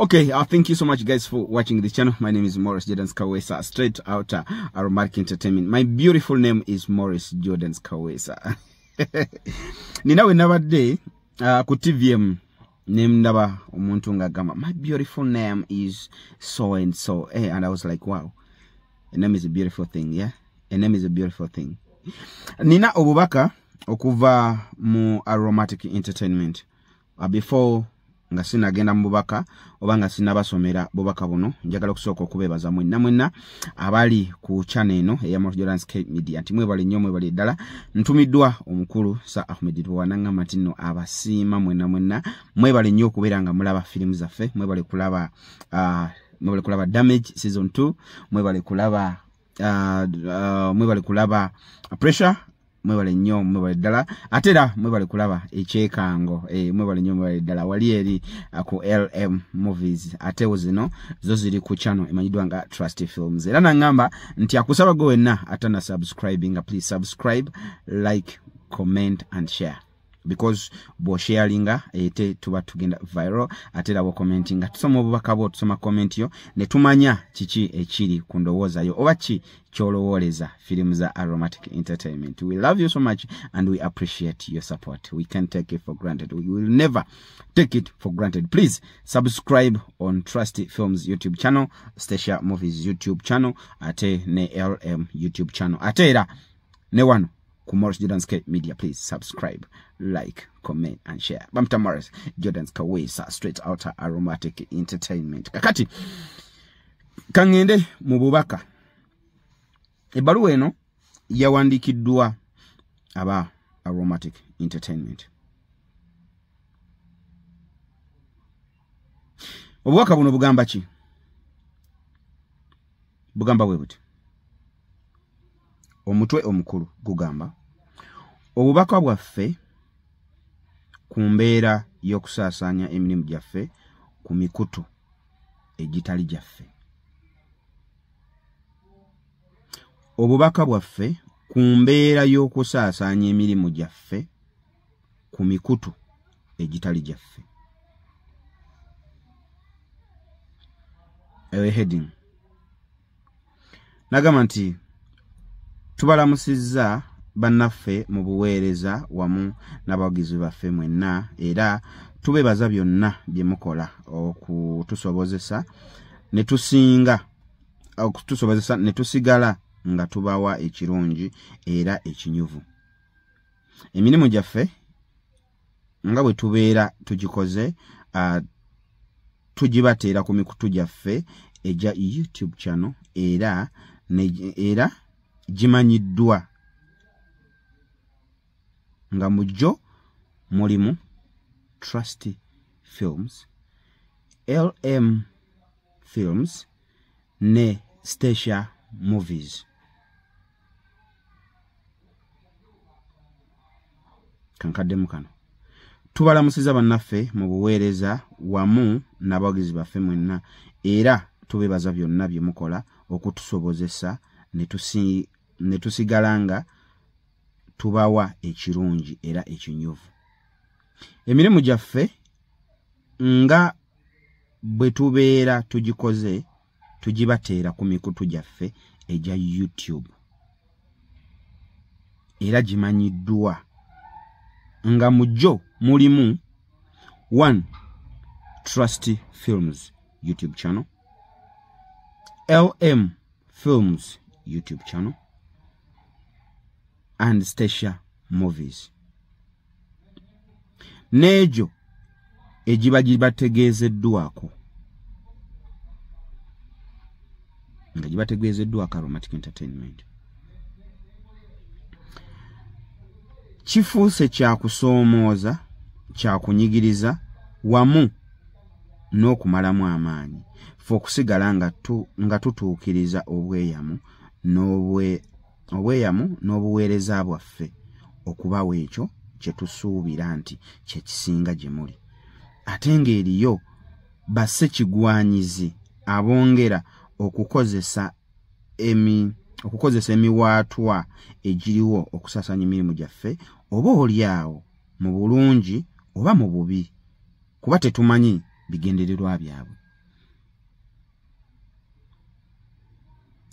Okay, uh, thank you so much guys for watching this channel. My name is Morris Jordan Kawesa, straight out uh, Aromatic Entertainment. My beautiful name is Morris Jordan Kawesa. Ninawe nabadde uh, ku TVM nemndaba omuntu nga gamba my beautiful name is so and so hey, eh, and i was like wow a name is a beautiful thing yeah a name is a beautiful thing nina obubaka okuva mu aromatic entertainment uh, before nga sinagenda mu bubaka oba nga sinabasomera bubaka buno njagala okusooka okubeebaza mwenna mwenna abali ku chana eno eyamorjolansk media nti mwebale nnyo mwebale ddala ntumiddwa omukulu sa ahmed twanangamba nti nno abasiima mwenna mwenna mwebale nnyo okubeera nga mulaba firimu zaffe mwebale kulaba uh, mwebale kulaba damage season 2 mwebale kulaba uh, uh, mwebale kulaba pressure mwebale nnyo mwebale ddala ate era mwebale kulaba ekyekango e, mwebale nnyo mwebale ddala wali eri uh, ku lm movies atewo zino zo ziri ku channel emanyiddwa nga trust films era nangamba nti akusaba gwe wenna atana subscribinga please subscribe like comment and share because bwosharinga ete tuba tugenda viral ate labo commenting nga tusoma obubaka bwo tusoma comment yo ne tumanya kiki ekiri ku ndowooza yo oba ki kyolowooleza film za aromatic entertainment we love you so much and we appreciate your support we can take it for granted we will never take it for granted please subscribe on trusty films youtube channel stacia movies youtube channel ate ne lm youtube channel ate era ne wano ku Morris Jordan's K Media. Please subscribe, like, comment and share. Bamta Morris Jordan's Kawesa straight out aromatic entertainment. Kakati kangende mu bubaka. Ebbaluwa eno yawandiikiddwa aba aromatic entertainment. Obubaka buno bugamba ki? Bugamba bwe buti. omutwe omukulu gugamba obubaka bwaffe ku mbeera y'okusaasaanya emirimu gyaffe ku mikutu egitali gyaffe obubaka bwaffe ku mbeera y'okusaasaanya emirimu gyaffe ku mikutu egitali gyaffe eyo heading nagamba nti tubalamusizza bannaffe mu buweereza wamu n'abawagizi baffe mwenna era tubebaza byonna bye mukola okutusobozesa ne tusinga okutusobozesa ne tusigala nga tubawa ekirungi era ekinyuvu emirimu gyaffe nga bwe tubeera tugikoze uh, tugibateera ku mikutu gyaffe egya youtube kyano era era gimanyiddwa nga mu gyo mulimu trust films lm films ne stacia movies kankaddemu kano tubalamusiza bannaffe mu buweereza wamu n'abawagizi baffe mwenna era tubebaza byonna bye mukola okutusobozesa ne tusigala nga tubawa ekirungi era ekinyuvu emirimu gyaffe nga bwe tubeera tugikoze tugibateera ku mikutu gyaffe egya youtube era gimanyiddwa nga mu gyo mulimu one trust films youtube channel lm films youtube channel and stacia movies n'egyo egiba gibategeezeddwako nga gibategeezeddwako aromatic entertainment kifuuse kyakusoomooza kyakunyigiriza wamu n'okumalamu amaanyi fe okusigala nga tutuukiriza obweyamu n'obwe obweyamu n'obuweereza bwaffe okubawa ekyo kye tusuubira nti kye kisinga gye muli ate ng'eriyo basse kigwanyizi abongera okukozesa emi okukozesa emiwaatwa egiriwo okusasanya emirimu gyaffe oba oli awo mu bulungi oba mu bubi kuba tetumanyi bigendererwa byabwe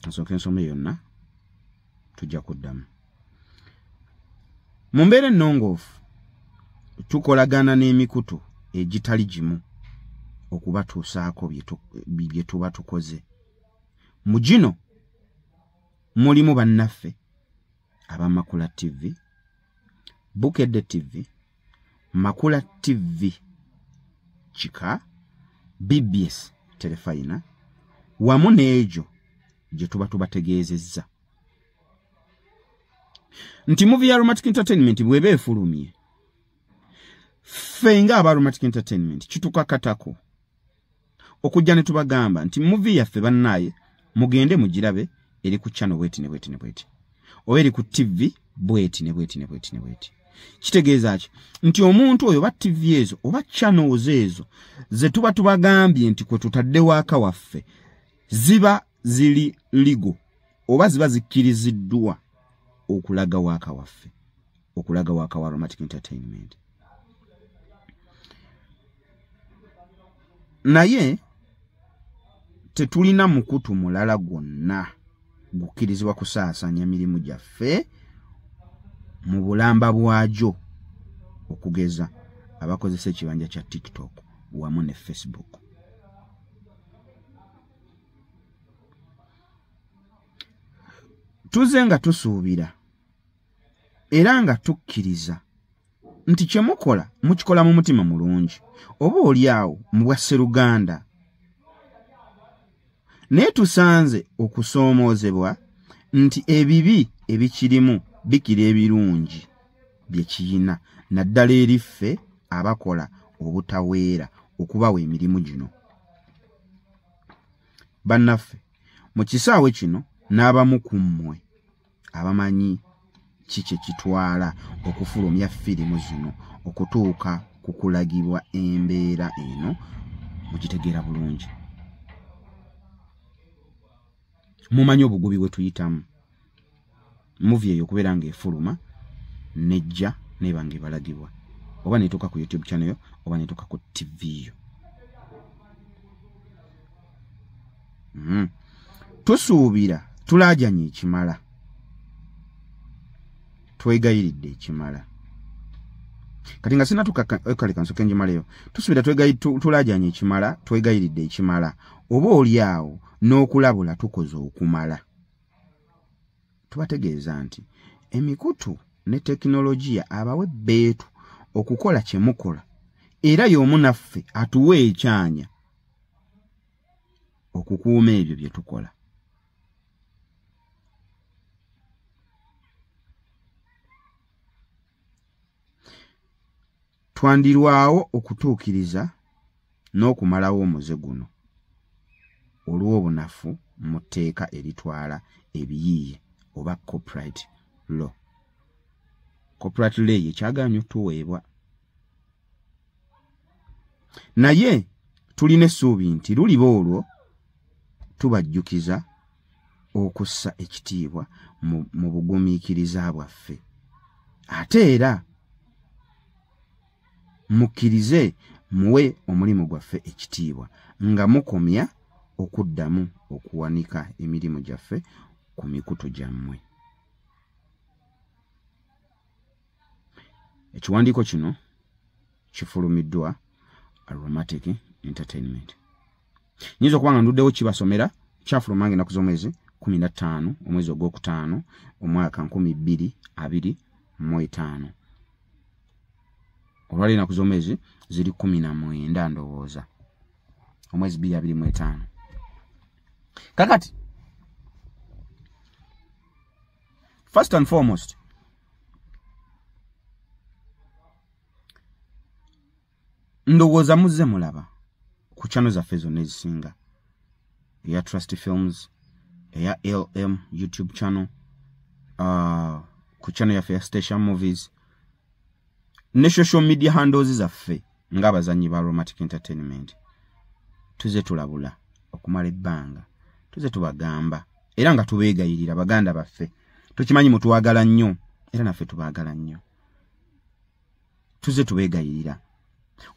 nsooka ensoma yonna tujja kuddamu mu mbeera ennongoofu tukolagana n'emikutu egitali gimu okubatuusaako bye tuba tukoze mu gino mulimu bannaffe abamakula ttivi bukedde ttivi makula tv kika bbs terefayina wamu n'egyo gye tuba tubategeezezza nti muvi ya romantic entertainment bweba efulumye ffe nga aba romantic entertainment kitukakatako okujja ne tubagamba nti muvi yaffe bannaaye mugende mugirabe eri ku channel bweti ne bweti ne bweti oba eri ku ttivi bweti ne bweti ne bweti ne bweti kitegeeza ki nti omuntu oyo oba ttivi ezo oba channels ezo ze tuba tubagambye nti kwe tutadde waaka waffe ziba ziri ligo oba ziba zikkiriziddwa okulaga waaka waffe okulaga waka wa romantic entertainment naye tetulina mukutu mulala gwonna gukkirizibwa kusaasanya mirimu gyaffe mu bulamba bwagyo okugeza abakozesa ekibanja kya tiktok wamu ne facebook tuze nga tusuubira era nga tukkiriza nti kye mukola mukikola mu mutima mulungi oba oli awo mu bwa sseruganda naye tusanze okusoomoozebwa nti ebibi ebikirimu bikira ebirungi bye kiyina naddala eri ffe abakola obutaweera okubawa emirimu gino bannaffe mu kisaawe kino n'abamu ku mmwe abamanyi ki kye kitwala okufulumya firimu zino okutuuka ku kulagibwa embeera eno mukitegeera bulungi mumanyi obugubi bwe tuyitamu muvi eyo okubeera ng'efuluma nejja neeba ng'ebalagibwa oba netuuka ku youtube channel yo oba netuuka ku tv yo hmm. tusuubira tulaajanye ekimala twegayiridde ekimala kati nga sina tukakaleka eh, nsoke njimaleyo tusuubira tulaajanye ekimala twegayiridde ekimala oba oli awo n'okulabula tukoze okumala tubategeeza nti emikutu ne tekinologiya abawe beetu okukola kye mukola era y'omu naffe atuwe ekyanya okukuuma ebyo bye tukola twandirwawo okutuukiriza n'okumalawo omuze guno olw'obunafu mu tteeka eritwala ebiyiiye oba copyright law copyright law yekyagaanyi otuweebwa naye tulina essuubi nti luliba olwo tubajjukiza okussa ekitiibwa mu bugumiikiriza bwaffe ate era mukkirize muwe omulimu gwaffe ekitiibwa nga mukomya okuddamu okuwanika emirimu gyaffe ku mikutu gyammwe ekiwandiiko kino kifulumiddwa aromatic entertainment nyinza okuba nga nduddewo kibasomera kyafuluma nga enaku z'omwezi kumi na ttaano omwezi ogwokutaano omwaka nkumi bbiri abiri mu etaano olwali enaku z'omwezi ziri kumi na mwenda ndowooza omwezi bbiri abiri mu etaano kakati first and foremost ndowooza muzze mulaba ku channel zaffe zonna ezisinga eya trust films eya lm youtube channel uh, ku channel yaffe ya station movies ne social media handles zaffe ng'abazannyi ba romantic entertainment tuze tulabula okumala ebbanga tuze tubagamba era nga tubeegayirira baganda baffe tukimanyi mutwagala nnyo era naffe tubaagala nnyo tuze tubeegayirira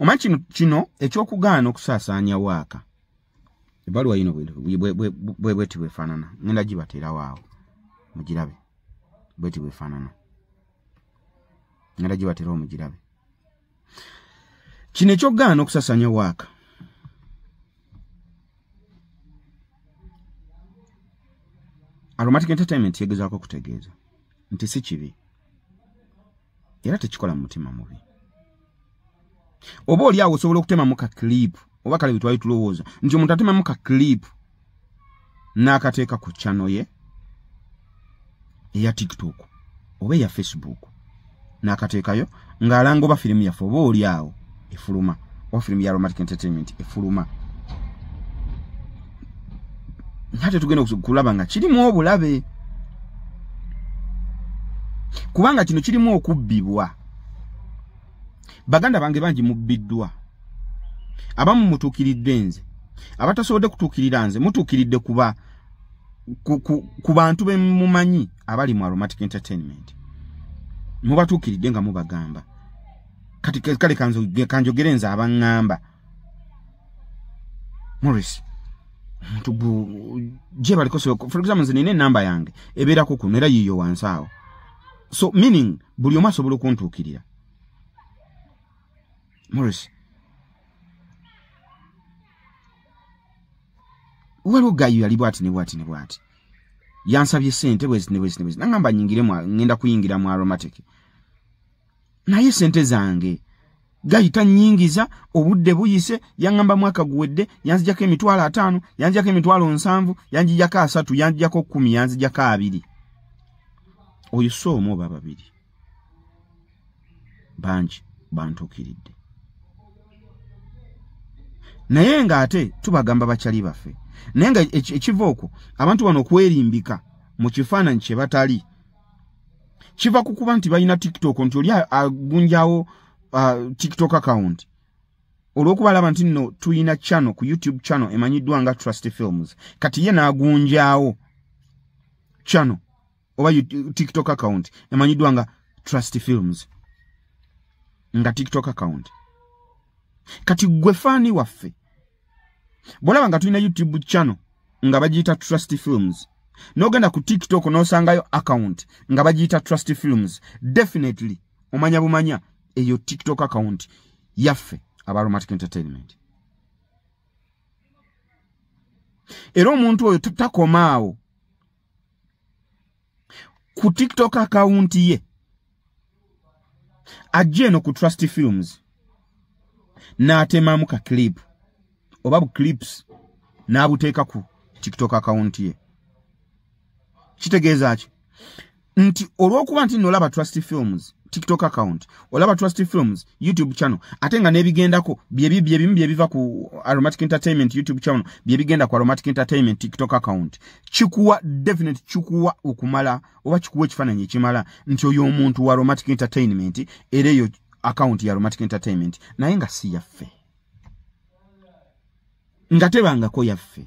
omanyi kino kino ekyokugaana okusaasaanya waaka ebaluwa yino bwebweti bwefaanana ngenda gibateerawo awo mugirabe bweti bwefaanana ngala gye batera omugirabe kino ekyogaana okusasanya waaka aromatic entertainment yegezaako okutegeeza nti si kibi era tekikola mu mutima mubi oba oli awo osobola okutemamu ka clip oba kale betwali tulowooza nti omuntu atemamu ka clip n'akateeka ku channel ye eya tiktok oba eya facebook n'akateekayo ng'alanga oba firimu yaffe oba oli awo efuluma oba firimu ya romantic entertainment efuluma ate tugenda okulaba nga kirimu obulabe kubanga kino kirimu okubbibwa baganda bange bangi mubbiddwa abamu mutuukiridde nze abatasobodde kutuukirira nze mutuukiridde kuba ku, ku, ku bantu bemumanyi abali mu aromatic entertainment mubatuukiridde nga mubagamba kati kale kanjogere nze abaŋŋamba morris omuntu gu gyebaliko for example nze nina enamba yange ebeerako kuno era yiiyo wansi awo so meaning buli omu asobola okuntuukirira morris waliwo gayo yali bwati ne bwati ne bwati yansabye sente bwezi ne bwezi ne bwezi nangamba nyingire mwa ngenda kuyingira mu aromatic naye sente zange gayita nyingiza obudde buyise yangamba mwaka guwedde yanzijako emitwalo ataano yanzijako emitwalo nsanvu yanjijako asatu yanzijako kumi yanzijako abiri oyo si omu oba babiri bangi bantuukiridde naye ng'ate tubagamba bakyali baffe naye nga ekiva okwo abantu bano okwerimbika mu kifaananyi kye batali kiva ku kuba nti balina tiktok nti oli agunjawo uh, tiktok account olwokuba alaba nti nno tulina channel ku youtube channel emanyiddwa nga trust films kati ye n'agunjawo channel oba tiktok account emanyiddwa nga trust films nga tiktok account kati gwe faani waffe bwolaba nga tulina youtube channel nga bagiyita trust films nogenda ku tiktok nosangayo account nga bagiyita trust films definitely omanya bumanya eyo tiktok account yaffe abaromatic entertainment era omuntu oyo takomaawo ku tiktok akawunti ye ajja eno ku trust films n'atemamu ka clip oba bu clips n'abuteeka ku tiktok akawunti ye kitegeeza ki nti olw'okuba nti nno olaba trust films tiktok account olaba trust films youtube channel ate nga nebigendako byebimu byebiva ku aromatic entertainment youtube channel byebigenda ku aromatic entertainment tiktok account kikuwa definite kikuwa okumala oba kikuwa ekifananyi ekimala nti oyo omuntu wa aromatic entertainment era eyo account ya aromatic entertainment naye nga si yaffe nga tebangako yaffe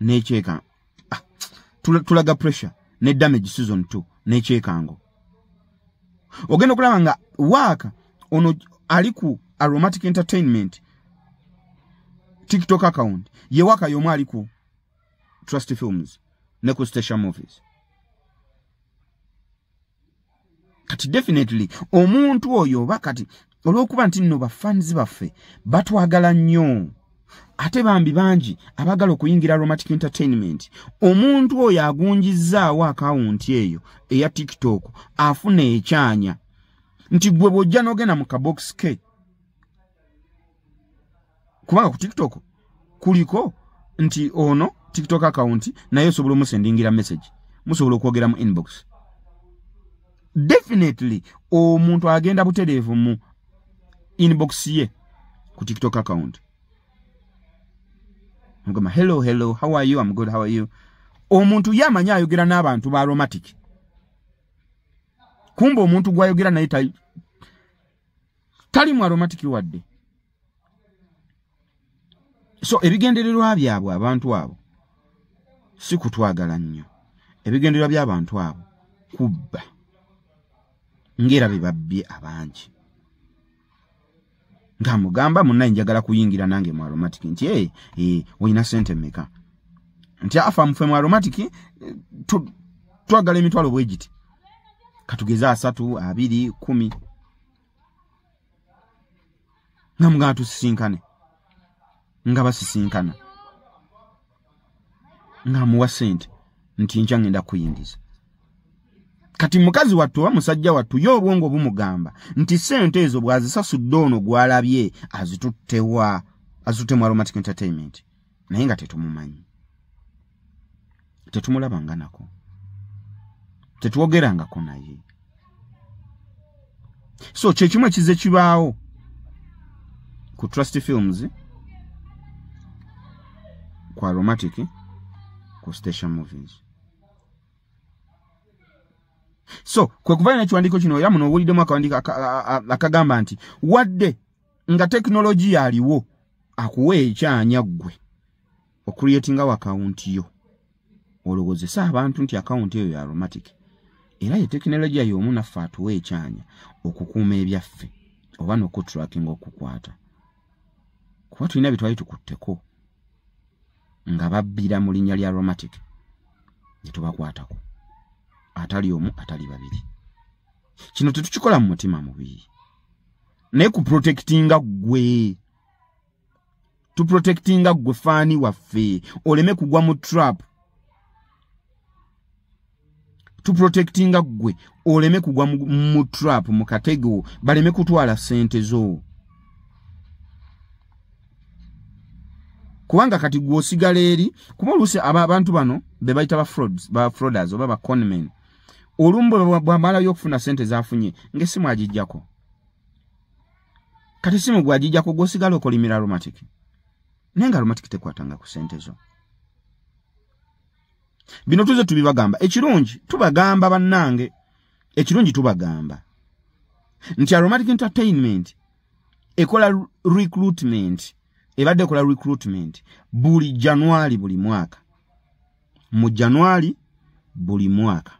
nekyekango ah, tulaga pressure ne damage season 2 nekyekango ogenda okulaba nga waaka ono ali ku aromatic entertainment tiktok account ye waaka yomu ali ku trust films ne ku station movies kati definitely omuntu oyo oba kati olwokuba nti nno bafans baffe batwagala nnyo ate bambi bangi abagala okuyingira aromatic entertainment omuntu oyo agunjizzaawo akawunti eyo eya tiktok afuna ekyanya nti gwe bwojja nogenda mu kabokisi ke kubanga ku tiktok kuliko nti ono tiktok account naye osobola omusendingira message musobola okwogera mu inbox definitely omuntu agenda butereevu mu inbox ye ku tiktok account mugamba hello hello how are you am good how are you omuntu ye amanyi ayogera n'abantu ba aromatic kumba omuntu gwayogera naye talimu aromatic wadde so ebigendererwa byabwe abantu abo si kutwagala nnyo ebigendererwa by'abantu abo kubba ng'era be babbye abangi nga mugamba munnaye njagala kuyingira nange mu aromatic nti e olina sente meka nti afa mufe mu aromatic eh, twagala emitwalo bwegiti katugeze asatu abiri kumi nga mugana tusisinkane nga basisinkana nga amuwa sente nti nkya ngenda kuyingiza kati mukazi wattu oba musajja wattu ye obwongo bumugamba nti sente ezo bwazisasudde ono gwalabye azituttewa azitutte mu aromatic entertainment naye nga tetumumanyi tetumulabanga nako tetwogerangako naye so kyekimu ekize kibaawo ku trust films ku aromatic ku station movies so kwekuvayo nekiwandiiko kino era muno owuliddemu akawandiiko akagamba nti wadde nga tekinologiya aliwo akuwa ekyanya ggwe okuriyetingawo akawunti yo olowozese abantu nti akawunti eyo ya aromatic era ye tekinologiya y'omu naffe atuwa ekyanya okukuuma ebyaffe oba nokuturakinga okukwata kuba tulina byetwali tukutteko nga babbira mu linnya lya aromatic gyetubakwatako atali omu atali babiri kino tetukikola mu mutima mubii naye ku protectinga gwe tu protectinga gwe fani waffe oleme kugwa mu trap tu protectinga gwe oleme kugwa mu trap mu katego baleme kutwala sente zo kubanga kati gwe osigala eri kuba oluusi abantu bano be bayita ba frauds ba frauders oba ba conmen olumu bwamalayo okufuna sente zafunye ngaesimu agijjako kati simu gwajija kugosigala okolimira aromatic naye nga aromatic tekwatanga ku sente zo bino tuze tubibagamba ekirungi tubagamba bannange ekirungi tubagamba nti aromatic entertainment ekola recruitment ebadde ekola recruitment buli januari buli mwaka mu januari buli mwaka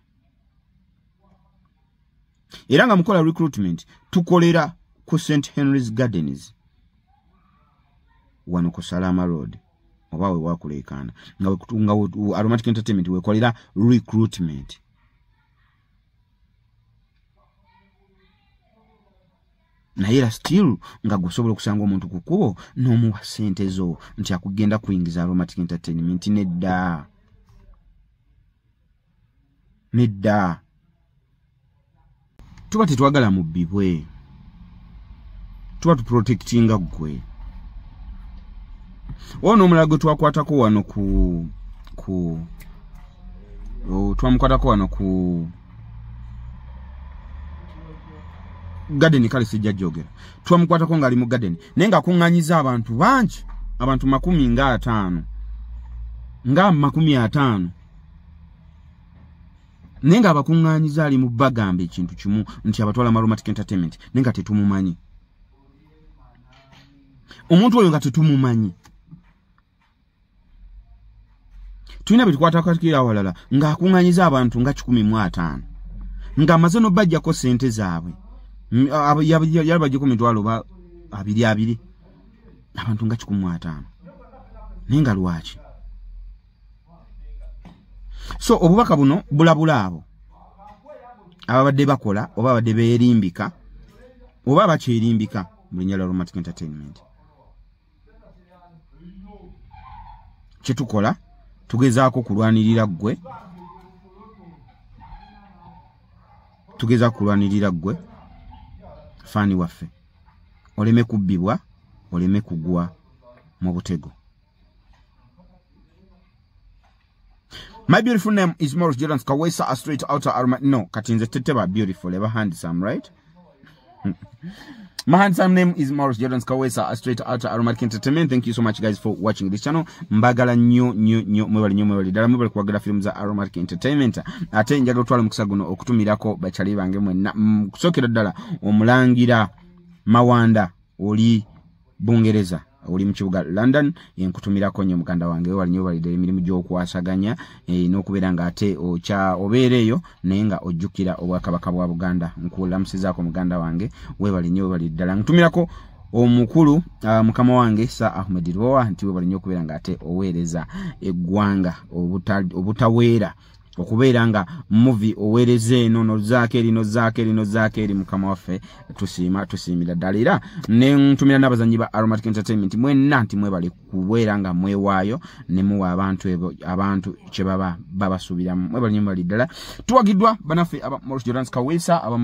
era nga mukola recruitment tukolera ku st henry's gardens wano ku salama road oba wewakuleekaana nga aromatic entertainment wekolera recruitment naye era still nga gwesobola okusanga omuntu ku kkubo n'omuwa ssente zo nti akugenda kuyingiza aromatic entertainment nedda nedda tuba tetwagala mubbibwe tuba tuprotektinga ggwe oba n'omulala gwe twakwatako wano ku ku twamukwatako wano ku gadeni kale sijja jogera twamukwatako ng'ali mu gadeni naye ng'akuŋŋanyiza abantu bangi abantu makumi ng'ataano nga makumi ataano naye nga abakuŋŋaanyiza ali mu bagamba ekintu kimu nti abatwala maromatic entertainment naye nga tetumumanyi omuntu oyo nga tetumumanyi tulina bye tukwatakatikira awalala ng'akuŋŋaanyiza abantu nga kikumi mu ataano ng'amaze n'obajjako ssente zaabwe yali bajjeko mitwalo oba abiri abiri abantu nga kikumi mu ataano naye nga lwaki so obubaka buno bulabula abo ababadde bakola oba abadde beerimbika oba bakyerimbika mu linnya lya romantic entertainment kyetukola tugezaako kulwanirira ggwe tugeza kulwanirira ggwe faani waffe oleme kubbibwa oleme kugwa mu butego My beautiful name is Morris Jordan Kawesa, a straight outer arm. No, Katinze Teteba, beautiful, ever handsome, right? My handsome name is Morris Jordan Kawesa, a straight outer aromatic entertainment. Thank you so much, guys, for watching this channel. Mbagala new, new, new, mwebali new, mwebali dala, mwebali kwa gada films za aromatic entertainment. Ate njaga utuwala mkusaguno, okutumira ko, bachaliba angemwe, na, mkusokira dala, umulangira, mawanda. oli bungereza oli mu kibuga london enkutumirako nyo muganda wange wewali nyo balidde emirimu gyokwasaganya e, nokubeera nga ate okya obeera eyo naye nga ojjukira obwakabaka bwa buganda nkulamusizaako muganda wange webali nyo webali ddala nkutumirako omukulu uh, mukama wange sa ahmed roa nti webali nyo okubeera nga ate oweereza eggwanga obutaweera obuta okubeera nga muvi owereza eno nozaako eri nozaako eri nozaako eri mukama waffe tusiima tusiimira ddala era nentumira n'abazanyi ba aromatic entertainment mwenna nti mwebale kubeera nga mwewaayo nemuwa abantu ebo abantu kyebaba babasuubiramu mwebale nyo mwebale ddala tuwagiddwa banaffe aba morus jorans kawesa aba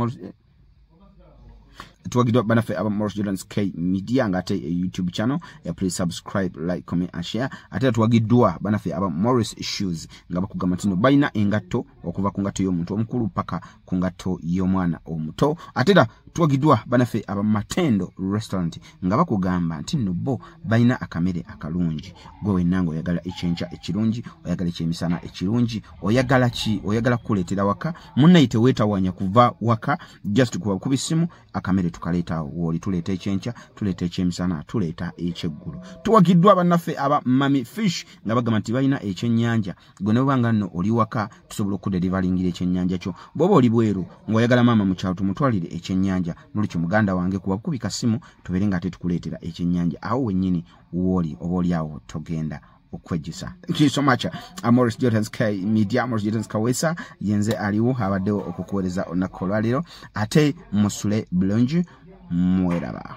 tuwagiddwa banaffe aba moros jordans k media nga ate eh, youtube channel eh, please subscribe like comment and share ate era tuwagiddwa banaffe aba morris shoes nga bakugamba ntino balina engatto okuva ku ngatto y'omuntu omukulu paka ku ngatto y'omwana omuto ate era tuwagiddwa banaffe aba matendo restaurant nga bakugamba nti nno bo balina akamere akalungi gwe wenna nga oyagala ekyenkya ekirungi oyagala ekyemisana ekirungi oyagala ki oyagala kukuleetera waka munnayi teweetawanya kuva waka just kuba kuba essimu akamere tukaleeta wooli tuleeta ekyenkya tuleeta ekyemisana tuleeta ekyeggulo tuwagiddwa bannaffe aba mami fish nga bagamba nti balina ekyennyanja gwe noba nga nno oli waka tusobola okuderivalingira ekyenyanja kyo bwoba oli bweru ngaoyagala maama mukyalo tumutwalire ekyenyanja nolukyo muganda wange kuba kukubika simu tubeere nga ate tukuleetera ekyenyanja awo wenyini wooli oba oli awo togenda okwejjusa thank you so much amoris uh, jotans k media amoris jotans kawesa yenze aliwo abaddewo okukuwereza olunaku olwaleero ate musule bulungi mweraba